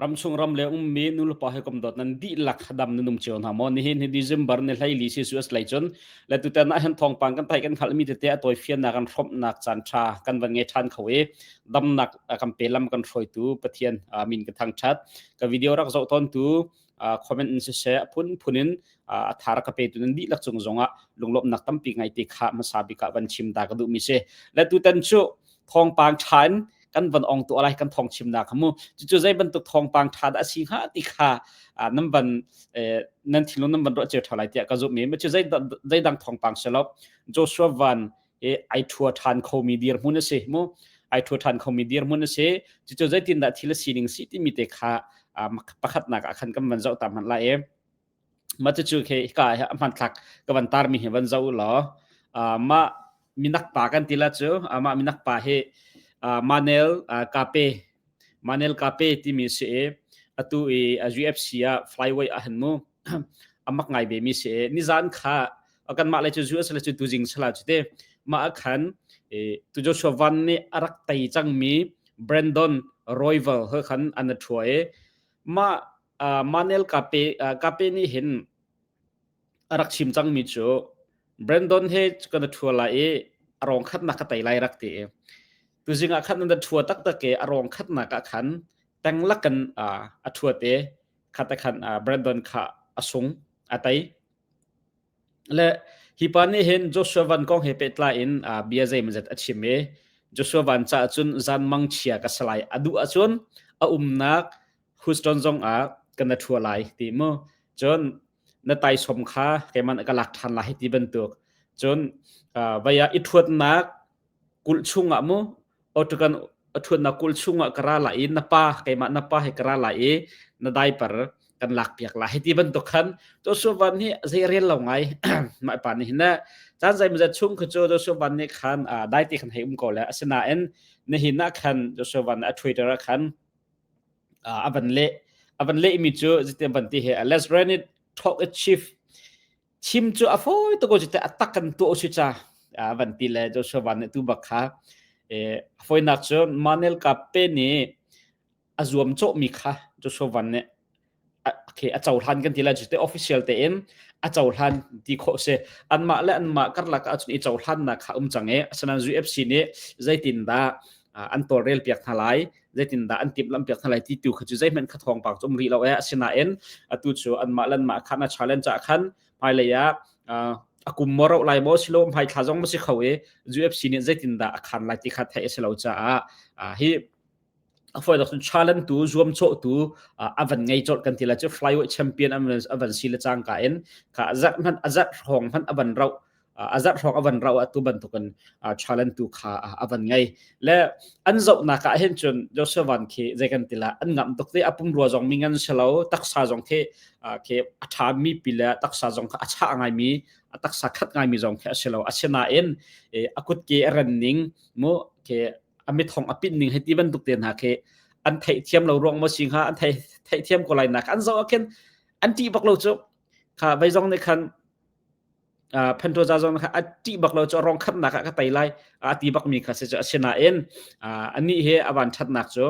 Ramchung ram le ummi nulepa he kom dawt nan dihlak dam nan um cio hna maw nihin hi December ni hleili Celsius lei cun le tutan ah hen thawngpang kan thai kan hngalh mi tete a tawi fiannak an hrawmhnak caan tha kan van ngei than kho i damnak kan pe lam kan hruaitu Pathian amin ka thang that ka video rak zoh ton tu comment in siseh a phunphun in a thar ka pe tu nan dihlak cung zongah lunglawmnak tampi ngai te kha hmasa bik ah van chim da ka duh mi si la tu tan chu thongpang than kan van ong tu lai kan thong chim na khamu chu zai bantuk thongpang tha da si ha ti kha nan van nan thilun nan van ro che thalai tia ka zu mi ma chu zai zai dang thongpang selop joshua van i ai thua than khomi dirhmun a si mu ai thua than khomi dirhmun a si cucu zeitindah thil a sining si timi te kha pakhatnak ah khan kan van zoh ta hman lai e mah cu khi hika a hman thlak ka van tar mi hi van zoh law mah minak pa kan ti la cu mah minak pa hi manel kape Manel Kape timi si i atu i a UFC ah flyweight a han mu amak ngai ve mi si i nizan kha kan mah le cu US le cu tu jing sala cu te mah khan tu Joshua Van nih a rak tei cang mi Brandon Royval he khan an thua i mah Manel Kape Kape nih hin a rak chim cang mi cu Brandon he kan thua lai i a rong khat nak ka tei lai rak ti i tuzing ah khan an thua taktak ke arong khatnak ah khan teng lakan a thua te khata khan Brandon kha asung atai le hi pa ni hin Joshua van kong he pe tla in bia zei mazat achim e Joshua van cha chun zan mang chia ka salai adu achun a umnak Houston zong a kana thua lai ti mo chon na tai som kha ke man ka lak than la hi ti bantuk chon vaya ithuat nak kulh chungah mu otakan athun na kulh chungah ka ra lai i na pa keimah na pa he ka ra lai i na diaper kan lak piak lai hiti bantuk khan to suvan hi zei rel lo ngai mai pa ni na chan zai mzat chung khu cho to suvan ni khan dai ti khan hei um ko le asinain na hi na khan to suvan a twitter khan avan le avan le mi chu zite banti he let's run it talk a chief Chim cu a fawi tuk cu teh a tak kan tuah usi ca van ti le Joshua van nih tu bak kha foinak cu Manel Kape nih a zuam cawhmi kha Joshua van nih okay, a cohlan kan ti le cu te official tein a cohlan ti khawh si anmah le anmah karlak ahcun i cohlannak kha um cang i asinain UFC nih zeitin dah an tawlrel piak hna lai zeitindah an timhlamhpiak hna lai ti tu kha cu zeihmanh kha thawngpang cu um rih lo e asinain atu cu anmah lan mah khan a challenge ah khan hmailei ah a kum mo ro lai maw silo hmai thla zong ma si kho e UFC nih zeitindah a khan lai ti kha theih a si lo caah hi a foi dok challenge tu zuam cho tu avan ngei chol kan tila chu flyweight champion avan si le chang ka in ka azat man azat hong man avan rau a zarh hrawng a van rau atu bantukin challenge tu kha a van ngei le an zohnak ah hin cun Joshua Van khi zei kan tila an ngam tuk te apung rua zong mi ngan selo taksa zong khi khi a tha mi pi le taksa zong kha a cha ngai mi a taksa khat ngai mi zong khi a silo asina in a kut ke a ran ning mu khi a mit thong a pin ning heti bantuk te hna khi an thei thiam lo ruang mo sing ha an thei thei thiam ko lai nak an zo akin an ti bak lo chu kha vai zong ne khan uh, Pentoza zong kha a ṭih bak lo cu a rong khatnak ah ka tei lai a ti bak mi kha si cu asinain uh, anih hi a van ṭhatnak cu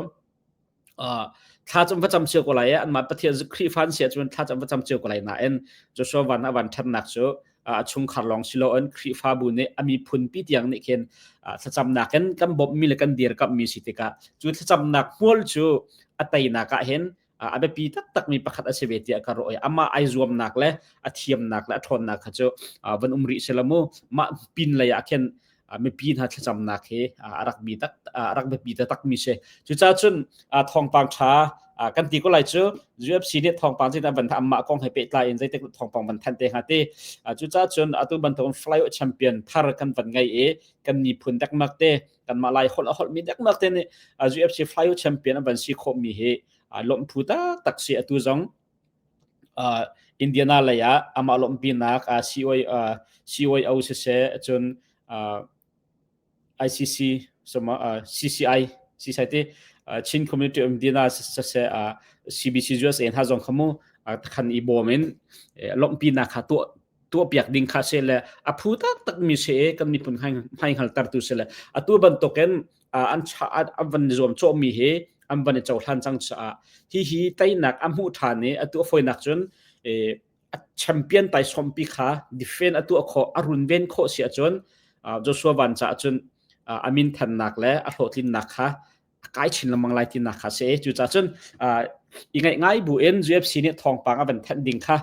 uh, thlacam va cam cio ko lai an ma pathian zu khrihfan sia cun thlacam va cam cio ko lai nain Joshua van a van ṭhatnak cu a chungkhar lawng silo in khrihfabu nih a miphun pi tiang nih khin thlacamnak in kan bawmh mi le kan dir kap mi si tikah cu thlacamnak hmual cu a teinak ah hin a biapi taktakmi pakhat a si ve tiah ka ruah i amah ai zuamnak le a thiamnak le a ṭhawnnak kha cu van um rih si la mu mah pin lei ah khin mipi hna thlacamnak hi a rak bi tak a rak biapi takmi si cucaah cun thawngpang ṭha kan ti ko lai cu UFC nih thawngpang cin van tham mah kong he pehtlai in zeitik thawngpang van thanh te hnga ti cucaah cun atu bantuk fly champion thar kan van ngai i kan miphun dekmak te kanmah lai holh a holhmi dekmak te nih UFC Flyo champion an van si khawhmi hi lawmhphu taktak si atu zong Indiana lei ah amah lawmhpinak COO siseh cun ICC CCI CCI ti Chin Community of Indiana siseh CBC USA hna zong khamu takhan i bawm in lawmhpinak kha tuah tuahpiak ding kha se le a phu taktakmi se kan miphun hai hngaltertu se le atu bantukin an an van zuam cawmi hi an van i cohlan cang caah hi hi teinak a hmuh ṭhan i atu a foinak cun a champion tai sompi kha defend atu a kho a runven kho si ahcun Joshua van caah cun a min thannak le a hlawhtlinnak kha a kai chin lengmang lai tinak kha si cucah cun i ngaih ngai buin UFC nih thawngpang a van thenh ding kha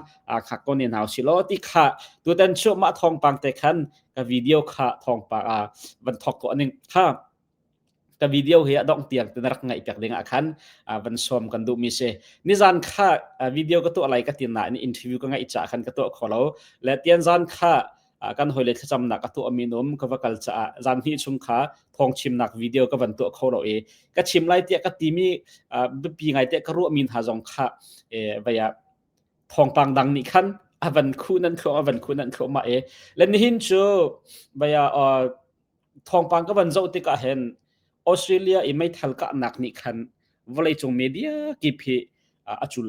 kha ko ne hau si law ti kha tutan chu mah thawngpang te khan ka video kha thawngpang van thok ko ning kha ka video hi a dong tiang ten rak ngai pek ding a khan van som kan du mi se ni zan kha video ka tu alai ka tin na ni interview ka ngai cha khan ka tu kho lo le tian zan kha kan hawile thlacamnak a tuahmi um ka va kal caah zan hnih chung kha thawng chimnak video ka van tuah kho lo i ka chim lai tiah ka timi biapi ngai tiah ka ruahmi hna zong kha vaya thawngpang dang nih khan avan khu nan khu avan khu nan khu ma e len hin chu vaya thawngpang ka van zo tikah hen Australia i meithal ka nak nih khan vawlei cung media kip hi a cul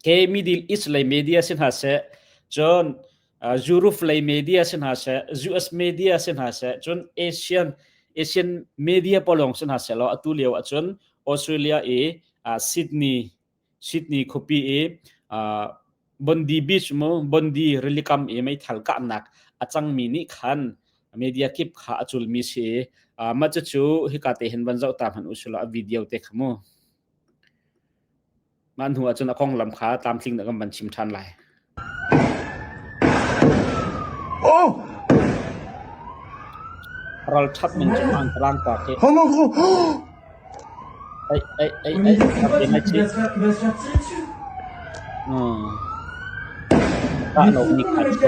ke middle east lei media si hna se cun Zuruf lei media si hna se US media si hna se cun Asian Asian media polong si hna se lo atu lio ahcun Australia i Sydney Sydney khupi i Bondi beach mu Bondi rilikam i mei thal kahnak a cangmi nih khan media kip kha a culmi si ma cu cu hika te hin van zoh ta hman usula video te khamu Mah hnu ahcun a konglam kha tlamtling in kan van chim ṭhan lai. Ralṭhat min cu hmaan ka rangka te. Ei, ei, ei, ei, ralṭi ngai ci. Ṭah nok nih khan cu.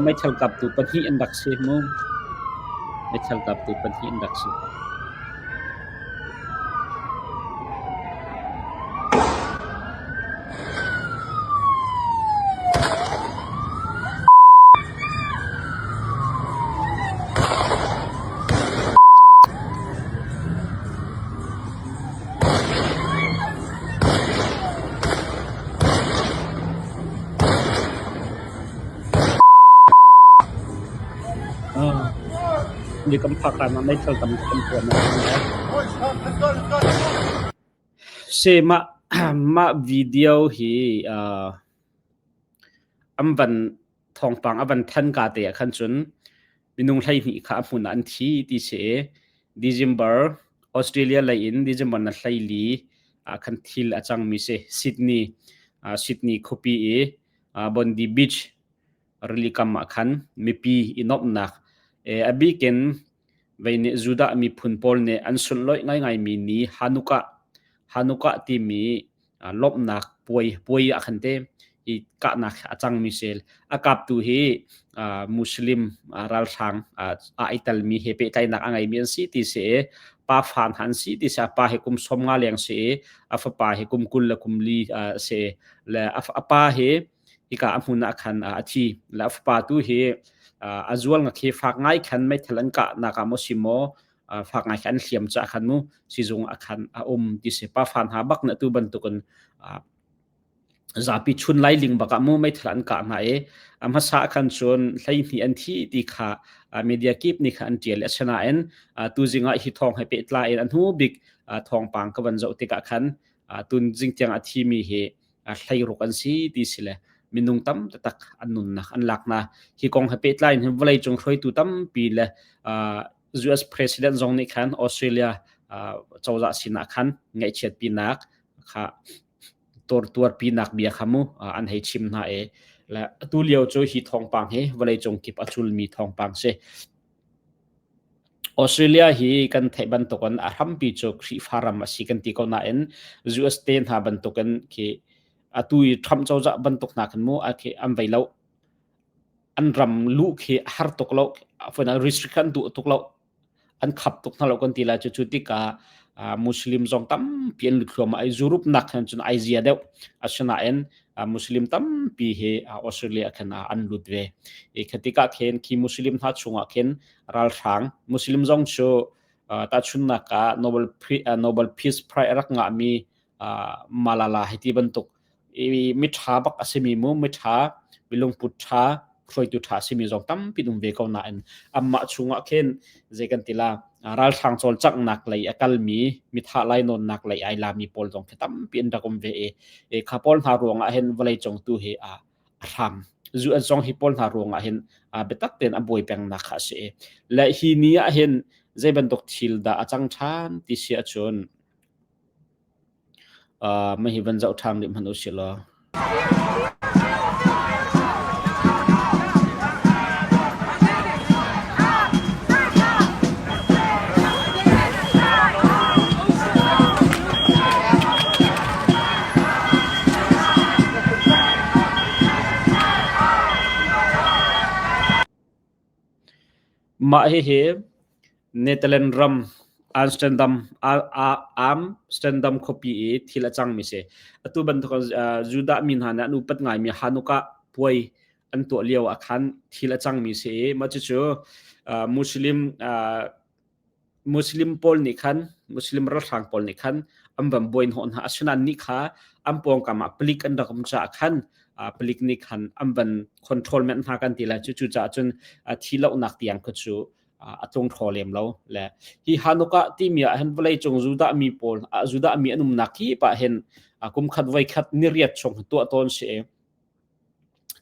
Meithal kaptu pahnih an rak si mu. Meithal kaptu pahnih an rak si. Mi kan phak lai mah meithal tam kan puan a um lai. Si mah mah video hi uh, an van thawngpang a van than ka te ah khan cun minung hleihnih kha a hmun ah an thi ti si i December Australia lei in December na hleili ah khan thil a cangmi si Sydney uh, Sydney khuapi i uh, Bondi Beach rili kam ah khan mipi i nomnak e abikin veine judah miphun pawl nih an sunloi ngai ngai mi ni hanukkah hanukkah timi lawmhnak puai puai ah khan te i kahnak a cangmi sel a kaptu hi muslim ralhrang aa i telmi he pehtlaihnak a ngeimi an si ti si i pa fa hna an si ti si a pa he kum sawm nga leng si i a fapa he kum kul le kum li si le a pa he hika a hmun ah khan a thi le a fapa tu hi a zual nga khi fak ngai khan meithal an kah naka mo si maw fak ngai kan hliam cu akhan mu sizung akhan a um ti se pa fan ha bak na tu bantukin zapi chun lai ling baka mu mai thlan ka na e am hasa khan chun hlai ni an thi ti kha media kip ni kha an tial asana en tu zinga hi thong he pe tla en an hu bik thong pang ka ban zo ti ka khan tun jing tiang a thi mi he hlai ruk an si ti sile minung tam tak an nun na an lak na hi kong ha pe tlai hin volai chung hroi tu tam pi le US president zong nih khan Australia cozah sinah khan ngaihchiatpinak kha tuarpinak bia kha mu an hei chim hna e le atu lio cu hi thawngpang hi vawleicung kip a culmi thawngpang si Australia hi kan theih bantukin a hrampi cu Khrihfa ram a si kan ti ko nain US te hna bantukin khi atu i Trump cozah bantuk hna kan mu a an vei lo an ram luh khi a har tuk lo restrict kan duh tuk lo an khap tuk hna lo kan ti la cu cu tikah muslim zong tampi an lut hluam ai zurup nak khan cun ai zia deuh asinain muslim tampi hi australia khan an lut ve e khatika khen khi muslim hna chungah khin ralhrang muslim zong chu ta chunna ka nobel nobel peace prize rak nga mi malala hiti bantuk i miṭha bak a simi mu miṭha lungput ṭha hruaitu ṭha a simi zong tampi um ve ko nain anmah chungah khin zei kan ti la ralhrang cawlcanghnak lei a kalmi mithah lainawnnak lei ai lami pawl zong khi tampi an rak um ve i kha pawl hna ruangah hin vawleicung tu hi a hrang zu an song hi pawl hna ruangah hin biatak tein a buai pengnak kha a si le hi ni ah hin zei bantuk thil dah a cang ṭhan ti si ahcun Hihi van zoh ṭhan rih hmanh usih law. Mah hihi Netherlands ram Amsterdam khuapi i thil a cangmi a si. Atu bantuk Judah mi hna nih an upat ngaimi Hanukkah puai an tuah lio ah khan thil a cangmi a si i mah cucu Muslim pawl nih khan Muslim ralhrang pawl nih khan an van buaihnawh hna. Asinain ni kha an pawngkam ah palik an rak um caah khan palik nih khan an van control men hna kan ti lai. Cucaah cun thi lonak tiang kha cu a cung tho lem lo le hi hanuka timi ah hin vawlei cung judah mi pawl judah mi an umnak hi pa hin kum khat voi khat ni riat chung tuah tawn si e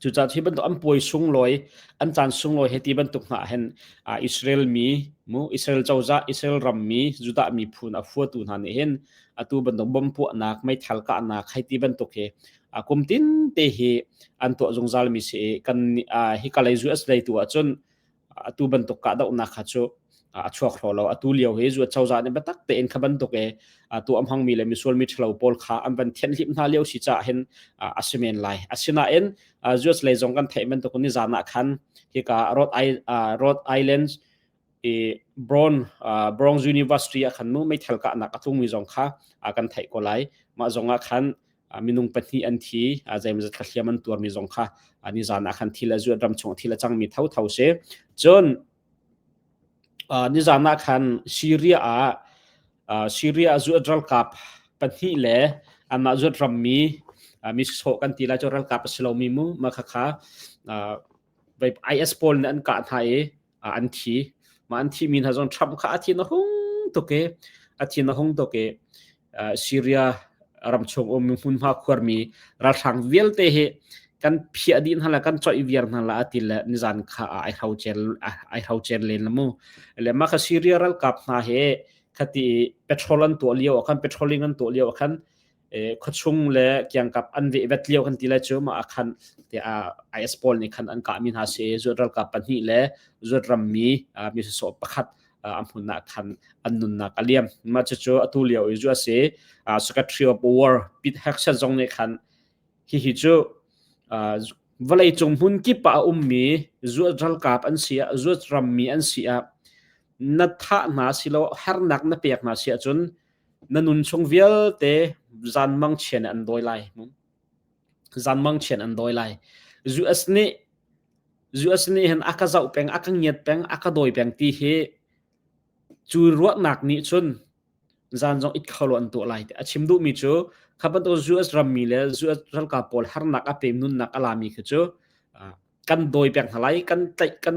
cuca hi bantuk an puai sunglawi an chan sunglawi he ti bantuk nga hen Israel mi mu Israel choza Israel ram mi judah mi phun a fuatu hna ne hen atu bantuk bom puah nak mai thal ka nak hai ti bantuk he akum tin te hi an to zungzal mi si kan hi kalai zu as dai tu a chun atu bantuk kahdohnak kha cu a chuak hlo lo atu lio hi zu cozah nih biatak tein kha bantuk e atu am hangmi le misual mi ṭhalo pawl kha an van thianh hlim hna lio si caah hin a si men lai asinain US lei zong kan theih bantuk nizan ah khan hika Rhode Rhode Island i Brown Bronx University ah khan mu meithal kahnak a thungmi zong kha kan theih ko lai mah zong ah khan minung pahnih an thi zeimawzat thlahliam an tuarmi zong kha nizan ah khan thil a zuat ram chung thil a cangmi thotho si cun nizan ah khan syria ah syria zuat ralkap pahnih le anmah zuat rammi mi sawh kan ti lai cu ralkap a si lomi mu ma khakha IS pawl nih an kah hna i ah an thi ma an thi mi hna zong Trump kha a thi na hung tuk e a thi na hung tuk e Syria ram chung um hmun hma khuar mi ralhrang vialte hi kan phia di hna la kan choi viar hna la ati le nizan kha ai hau chen ai hau chen len lamu le ma kha Syria ral kap hna he khati petrol an to liu kan petroling an to liu kan khuachung le kiangkap an vehvet lio kan ti lai cu ma khan te IS pawl nih khan an kah mi hna si zuat ralkap pahnih le zuat ram mi mi so pakhat a hmun nak khan an nunnak a liam ma chu chu atu lio i zu asi secretary of war Pete Hegseth zong nih khan hi hi chu vawlei cung hmun kip a um mi zuat ralkap an si a zuat ram mi an si a na tha hna silo hernak na pek hna si ahcun Na nunchung vialte zanmang chian an dawi lai. Zanmang chian an dawi lai. US nih US nih hin aka zoh peng, aka ngiat peng, aka dawi peng ti hi cu ruahnak nih cun zan zong it kholo an tuah lai. A chim duhmi cu kha bantuk US rammi le US ralkap pawl harnak a pem nunnak a lami khi cu kan dawi peng hna lai, kan tlaih, kan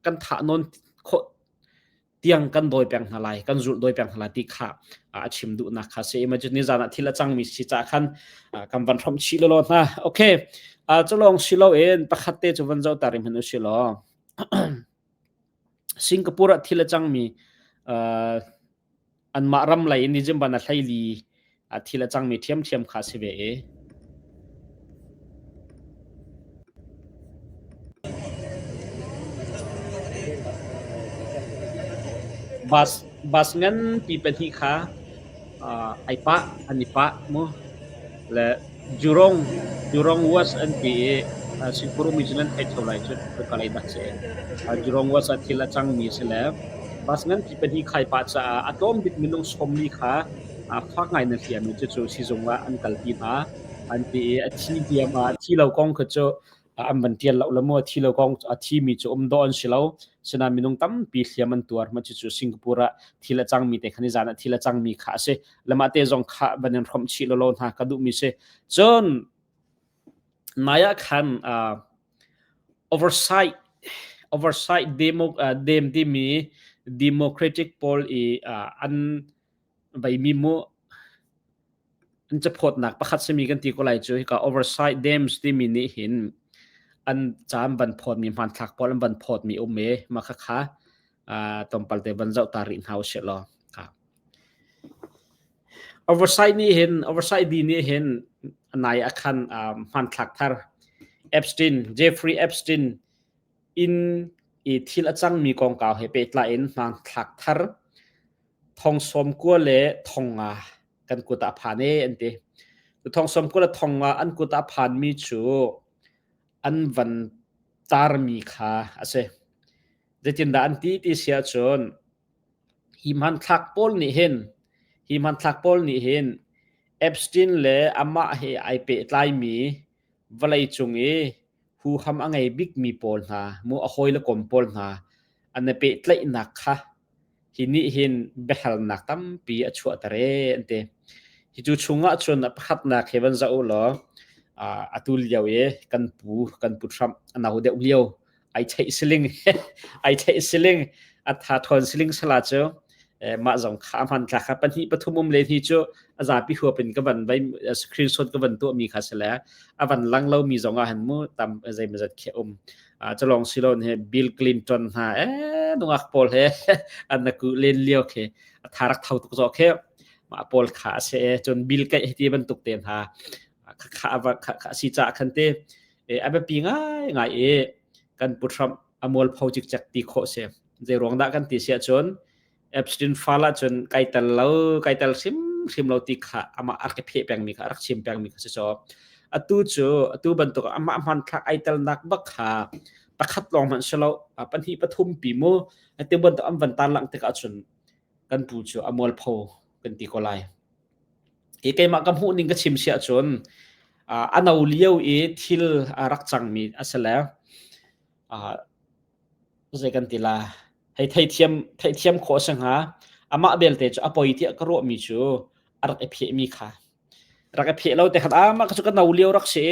kan thah nawn khawh tiang kan dawi peng hna lai kan zulh dawi peng hna lai ti kha a chim duhnak kha si imagine ni zan ah thil a cangmi si ca khan kan van hrom chih lolo hna okay cu lawng si lo in pakhat te cu van zo ta rim hin u si lo Singapore ah thil a cangmi anmah ram lei in December na hleili ah thil a cangmi ṭhiamṭhiam kha a si ve i bus bus nganpi pahnih kha ai pah an i pah mu le Jurong, Jurong West an ti i Singapore umi cu nan thei kho lai cun Kalay dah si. Jurong West ah thil a cangmi a si le bus nganpi pahnih khai pah caah a tlawm bik minung sawmli kha fak ngai na fian i cucu sizung ah an kalpi hna. An ti i a thi diam ah a thi lo kong kha cu an van tial lo le maw thi lo kong a thi mi cu um do an si lo sina minung tampi hliam an tuar ma cucu Singapore ah thil a cang mi te khan i zan ah thil a cang mi kha a si lama te zong kha van in hrom chi lo lo hna ka duh mi si cun naya khan uh, oversight oversight demo uh, dem ti mi democratic poll i uh, an veimi mu an caphawtnak pakhat simi kan ti ko lai cu hika oversight dams timi nih hin an cam van phawtmi hmanthlak pawl an van phawtmi um e ma kha kha tompal te van zoh ta rih hna usih law oversight nih hin oversight di nih hin nai akhan hmanthlak thar Epstein Jeffrey Epstein inn i thil a cangmi kongkau he pehtlai in hmanthlak thar thong sawm kua le thong nga kan kut ah phan e an ti thong sawm kua le thong nga an kut ah phanmi cu an van tarmi kha a si zeitindah an ti ti si ahcun hi hmanthlak pawl nih hin hi hmanthlak pawl nih hin Epstein le amah he ai pehtlaimi Vawleicung i huham a ngei bikmi pawl hna maw a hawile kom pawl hna an i pehtlaihnak kha hi nih hin biahalnak tampi a chuahter ee an ti. Hi cu chungah cun pakhatnak hi van zoh u law atu lio i kan pu kan pu Trump a no deuh lio ai theih siling ai theih siling atha thon siling sala cu mah zong kha man tla kha pahnih pathum um le hi cu azapi huapin ka van vai screenshot ka van tu mi kha sele avan lang lo mi zong a han mu tam zai mazat khe um chalong silon he Bill Clinton ha e nungak pol he anaku len liao khe atharak thau tuk zo khe ma pol kha se chon Bill kai heti ban tuk te ha kha kha ava kha si cha khan te a biapi ngaingai i kan puthram a mualpho cikcek ti khawh si zei ruang dah kan ti si ahcun Epstein file ahcun kai tel lo kai tel hrim hrim lo ti kha amah a ka pheh pengmi kha a rak chim pengmi kha si caw atu cu atu bantuk amah hman thlak ai telnak bak kha pakhat lawng hmanh si lo pahnih pathum pi mu ati bantuk an van tan lang tik ahcun kan pu cu a mualpho kan ti ko lai Hi keimah ka hmuh ning ka chim si ahcun uh, a no lio i thil uh, rak cangmi a si le uh, zei kan ti la hei theithiam theithiam khawh si hnga amah belte cu a poi tiah ka ruahmi cu a rak i phehmi kha rak i pheh lo te khat ama ka cu ka no lio rak si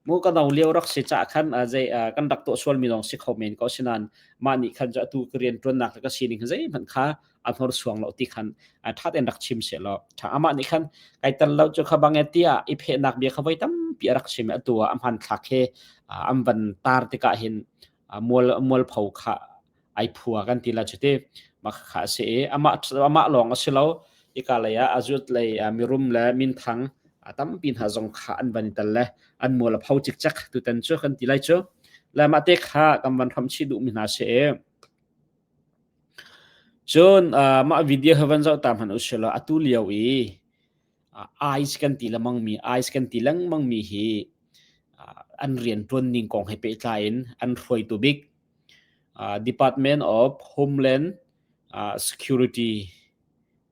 mu ka no lio rak si cha khan zei kan rak to sual mi lawng si kho men ko sinan ma ni khan cu atu ka rian tuannak ka sining zei hmanh kha a hnor suang lo ti khan that in rak chim se lo tha ama ni khan kai tan lo chu kha bang tia i phe nak bia kha voi tam pi rak sim atu a man thla khe am ban tar ti ka hin mual mual pho kha ai phua kan ti la chuti ma kha se ama ama long a silo ikalaya azut lei mirum le min thang atam pin ha zong kha an ban tal le an mual pho chik chak tu tan chu kan ti lai chu lama te kha kam van tham chi du mi na se Cun uh, mah video hi van zoh ta hmanh usihlaw atu lio i uh, ICE kan ti lengmang mi ICE kan ti lengmang mi hi uh, an rian ṭuan ning kong he pehtlai in an hruaitu bik uh, Department of Homeland uh, Security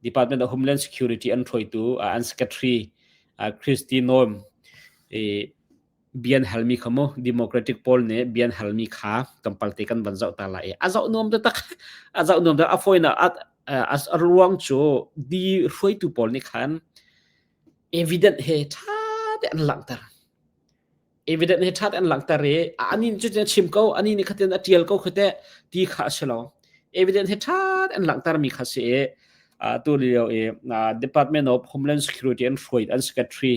Department of Homeland Security an hruaitu uh, an secretary uh, Christy Noem i bia an halmi kha mu democratic pawl nih bia an halmi kha kan palte kan van zoh ta lai i a zoh nuam taktak a zoh nuam tak a fawinak a ruang cu di hruaitu pawl nih khan evident he tha te an langhter evident he tha te an langhter i ani cu tin chim ko ani nih khatin a tial ko khate ti kha a si lo evident he tha te an langhter mi kha si i tu lio i department of homeland security and hruai an secretary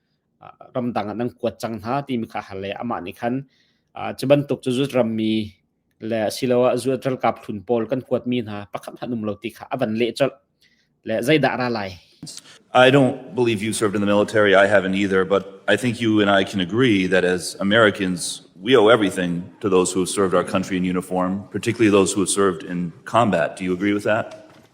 ramdang ah nan kuat cang hna timi kha hal le amah nih khan cu bantuk cu zuat rammi le asiloah zuat ralkap hlun pawl kan kuatmi hna pakhat hmanh um lo ti kha a van leh colh le zeidah ra lai I don't believe you served in the military. I haven't either. But I think you and I can agree that as Americans, we owe everything to those who have served our country in uniform, particularly those who have served in combat. Do you agree with that?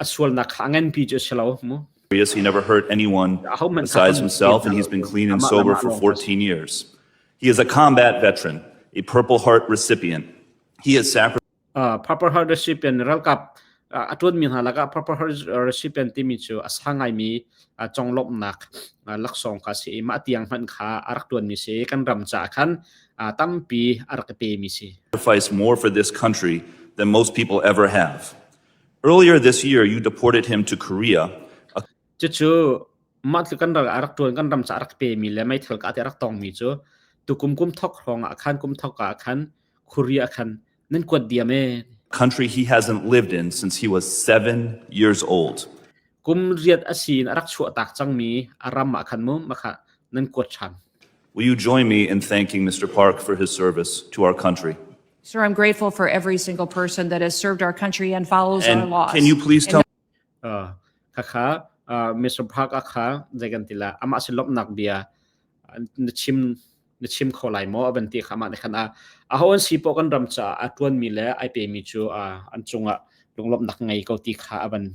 a sualnak kha a nganpi cu a si lo mu. He never hurt anyone besides himself, and he's been clean and sober for 14 years. He is a combat veteran, a Purple Heart recipient. He has sacrificed. Uh, Purple Heart recipient ralkap a tuan mi hna laka Purple Heart recipient timi cu a sa ngai mi conglomnak laksong ka si ma tiang hman kha a rak tuan mi si kan ram ca khan tampi a rak te mi si sacrifice more for this country than most people ever have Earlier this year you deported him to Korea. Cucu mah tluk kan ral a rak ṭuan kan ram ca a rak pemi le meithal ka te a rak tongmi cu tukum kum thok hrawng ah khan kum thok ah khan Korea khan nan kuat diam e country he hasn't lived in since he was 7 years old kum riat asin a rak chuah tak cangmi a ram ah khan mu makha nan kuat ṭhan Will you join me in thanking Mr. Park for his service to our country? Sir, I'm grateful for every single person that has served our country and follows our And laws. can you please tell uh, khakha uh, Mr. Park akha zegan tila ama se lopnak bia uh, na chim na chim kho lai mo aban ti khama ne khana a hon si po kan ram cha a tuan mi le ai pe mi chu uh, an chunga lunglop nak ngai ko ti kha aban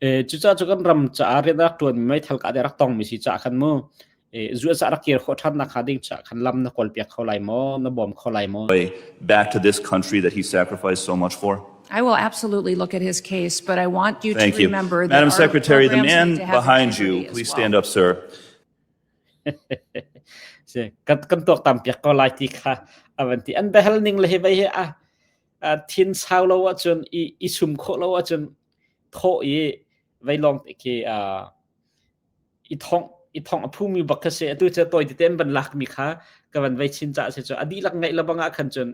Cucaah cu kan ram caah riahnak ṭuan meithal kahdoh a rak tongmi si caah khan mu zuahzah rak kir khawh ṭhannak hnga ding caah khan lam na kawlpiak kho lai maw? Na bawm kho lai maw? Back to this country that he sacrificed so much for. I will absolutely look at his case, but I want you to remember that Madam Secretary, the man behind you, please stand up, sir. Kan tuak tam piak ko lai ti kha avan ti. An behel ning le hi vai hi a thin sau lo ahcun i, i sum khawh lo ahcun thawh i vei lawng te khi i thong i thong a phumi bak kha si atu cu tawi teten ban lak mi kha ka van vei chin ca se chu a dihlak ngeih la bangah khan cun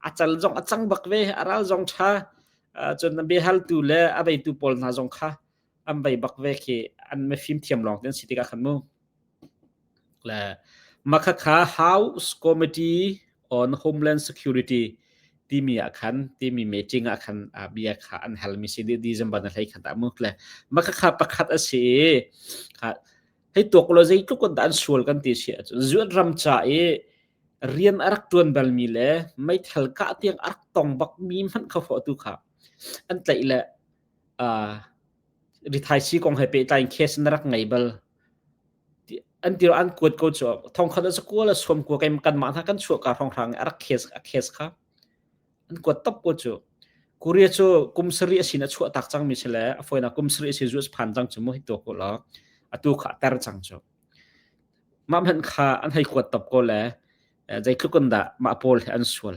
a cal zong a cang bak ve a ral zong tha cun bia haltu le a veitu pawl hna zong kha an bei bak ve khi an me fim thiam lawng tin si tik ah khan mu le makha kha house committee on homeland security timi ah khan timi meeting ah khan bia kha an hal mi si December na hlei khan ta mu le makha kha pakhat asi kha hei to ko lo zei tluk kon dan sual kan ti si zuat ram cha e rian arak tuan bal mi le mei thal ka tiang arak tong bak mi man kha fo tu kha an tlai le rithaisi kong he pehtlai in case na rak ngei bal an tiro an kuat ko cu thongkhat a kual a suam kua kan mah hna kan chuah ka phong hrang a rak case a case kha an kuat top ko cu korea cu kum sari a sin a chuah tak cang mi si le a foina kum sari a sin zuas phan cang cu mu hi to ko la a tu kha ter cang cu mam han kha an hei kuat top ko le zeitlukun dah ma pol he an sual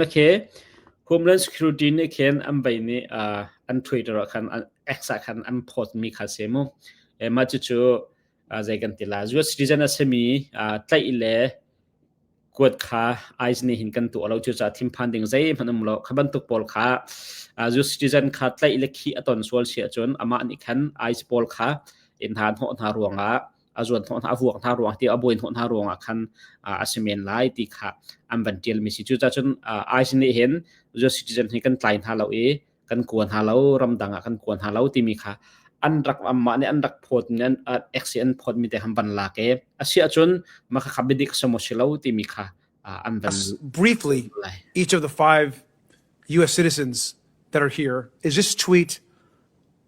Makhe Homeland Security nih khin an bei nih an Twitter ah khan X ah khan an post mi kha si mu. Mah cucu zei kan ti la US citizen a simi tlaih le kuat kha ICE nih hin kan tuah lo cucaah thinphan ding zeihmanh um lo. Kha bantuk pawl kha US citizen kha tlaih le khih a ton sual si ahcun amah nih khan ICE pawl kha in hna hnawh hna ruangah a zuan thawh hna huak hna ruang ti a buai thawh hna ruang ah khan a si men lai ti kha an van tial mi si cu ca cun ai sin nih hin US citizen hi kan tlai hna lo i kan kuan hna lo ramdang ah kan kuan hna lo timi kha an rak amah nih an rak phawt mi an exi an phawt mi te han ban la ke a sia cun ma kha khabidik samo si lo timi kha an van briefly each of the five US citizens that are here is this tweet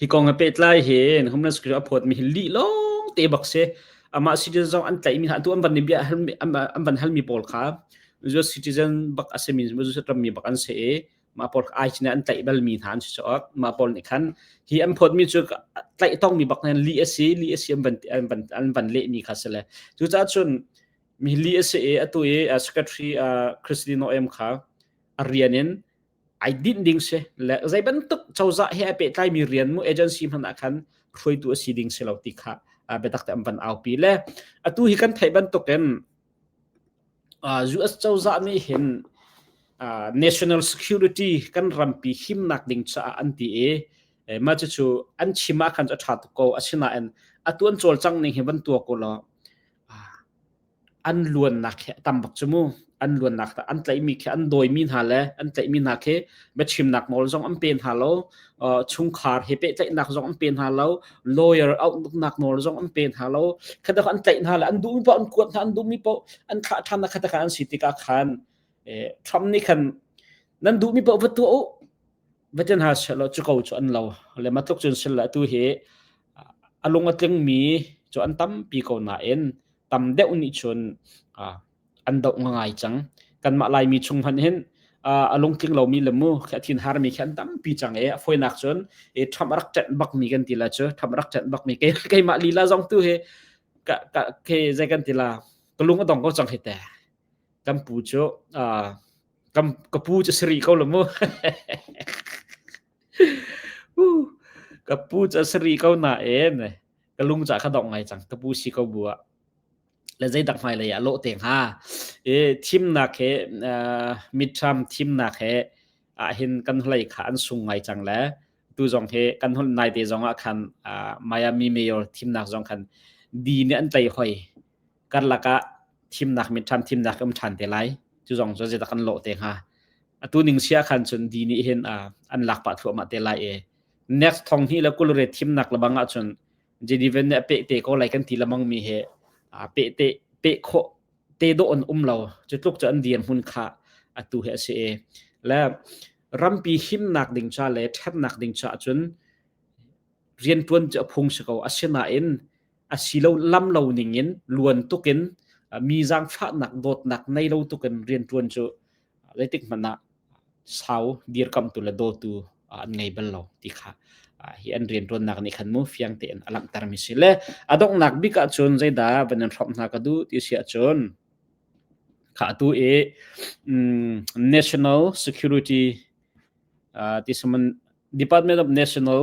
hi kong a pet lai hin hum na screen a phot mi hi li long te bak se ama citizen an tlai mi ha tu an van ni bia an van hal mi pawl kha zu citizen bak asemin zu se ram mi bak an se e ma pawl ai chine an tlai bal mi han si chok ma pawl ni khan hi an phot mi chu tlai tong mi bak nan li asi li asi an van an van an van le mi kha sele chu cha chun mi li ase e atu e secretary christine em kha arianin ai dinh ding si le zei bantuk cozah he ai pehtlaimi mi rian mu agency hman ah khan hruaitu a si ding si lo ti kha biatak te an van aupi le atu hi kan theih bantukin US cozah nih hin national security kan rampi himnak ding caah an ti i ma cu cu an chima khan a ṭha tuk ko asinain atu an cawlcang ning hi van tua ko law an luannak hi a tam bak cu mu an luannak an tlaihmi khi an dawimi hna le an tlaihmi hna khi biachimnak nawl zong an pe hna lo chungkhar he pehtlaihnak zong an pe hna lo lawyer outlooknak nawl zong an pe hna lo khadak an tlaih hna le an duhmi poh an kuat hna an duhmi poh an thlah ṭhan na khatak an si tikah khan Trump nih khan nan duhmi poh va tuah u va ten ha selo cu ko cu an lo le matluk cun silla tu hi a lung a tlingmi cu an tampi ko nain tam deuh nih cun an doh ngangai cang. Kanmah Laimi chung hmanh hin a lungtling lomi le mu khi a thin harmi khi an tampi cang i a fawinak cun i Trump a rak ṭenh bakmi kan ti la cu Trump a rak ṭenh bakmi keimah lila zong tu hi zei kan ti la ka lung a dong ko cang hi teh. Kan pu cu ka pu cu si rih ko la mu. Huh, ka pu cu a si rih ko nain ka lung cu a ka dong ngai cang. Ka pu si ko bu ah. Le zeidak hmailei ah lawh te hnga. I thimnak he, uh, midterm thimnak he ahhin kan hlei kha an sung ngai cang le tu zong hi kan hol nai te zong ah khan uh, Miami Mayor thimnak zong khan di nih an tei hoi. karlak ah thimnak mit ṭhan thimnak um ṭhan te lai cu zong cu zeidak an lawh te hnga atu ning sia khan cun di nih hin an lak pah thluahmah te lai e next thong hi le kulre thimnak lebang ah cun Genevan nih a pe te ko lai kan ti lamang mi he a pe te pe kho te do on um lo cu tluk cu an dir mun kha atu he ase e le rampi himnak ding cha le ṭhatnak ding cha cun rian ṭuan cu a phung si ko asina in asilo lam lo ning in luan tuk in mi zaangfahnak dawtnak nei lo tuk in riantuan cu zeitik hmanh ah sau dirkamh tu le dawtu an ngei bal lo ti kha hi an riantuannak nih khan mu fiang te in a langhter mi si le a donghnak bik ah cun zeidah van in hromh hna ka du ti si ahcun kha tu i national security this department of national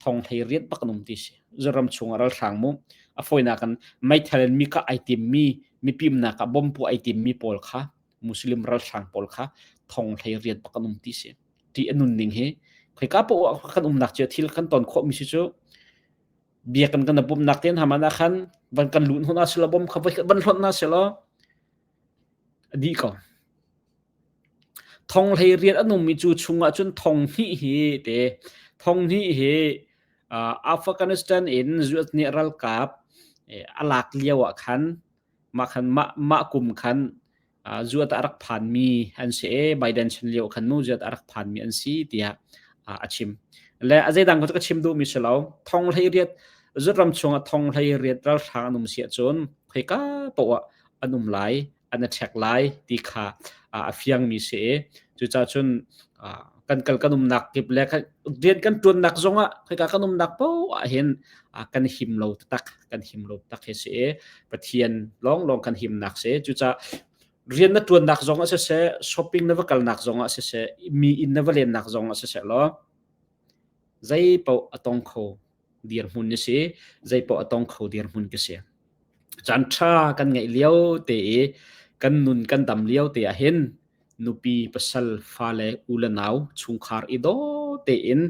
thong hlei riat bak an um ti si. Zoram chung ah ralhrang mu a foinak an meithal in mika ai timmi mipimnak ah bombu ai timmi pawl kha muslim ralhrang pawl kha thong hlei riat bak an um ti si. Ti anun ning hi khoi ka po kan umnak cu thil kan ton khawmi si cu biakan kan bumnak tin hamana khan van kan lut huna sila bom kha voi van hlon na sila dih ko. Thong hlei riat an ummi cu chungah cun thong hnih hi te thong hnih hi uh, Afghanistan in zuat nih ralkap eh, alak lio ah khan mah khan mah mah kum khan uh, zuat a rak phan mi an si e Biden chan lio khan nu zuat a rak phan mi an si tiah uh, a chim le a zeidang ko ka chim du mi si lo thong hlei riat zuat ram chungah thong hlei riat ral hrang an um si cun khoi ka to an um lai, an a ṭhek lai ti kha a fiangmi si i cucaah cun kan kal kan umnak kip le rian kan ṭuannak zongah khika kan umnak poah ah hin kan him lo taktak kan him lo taktak hi si i Pathian lawnglawng kan himnak si cucaah rian na ṭuannak zongah siseh shopping na va kalnak zongah siseh mi inn na va lennak zongah siseh law zeipaoh a tong kho dirhmun na si zeipaoh a tong kho dirhmun ka si chan tha kan ngeih lio te i kan nun kan dam lio te ah hin nupi pasal fale ule nau chungkhar i do te in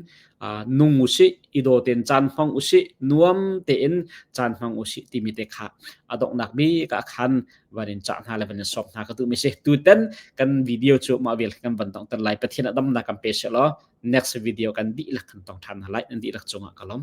nung usi i do ten chan hmang usi nuam te in chan hmang usi ti mi te kha adok nak mi ka khan warin cha na level som na ka tu mi se tu ten kan video chu ma vel kan ban tong tan lai pathian adam na kan pe se lo next video kan dihlak kan tong ṭhan hna lai, an dihlak cungah ka lawm.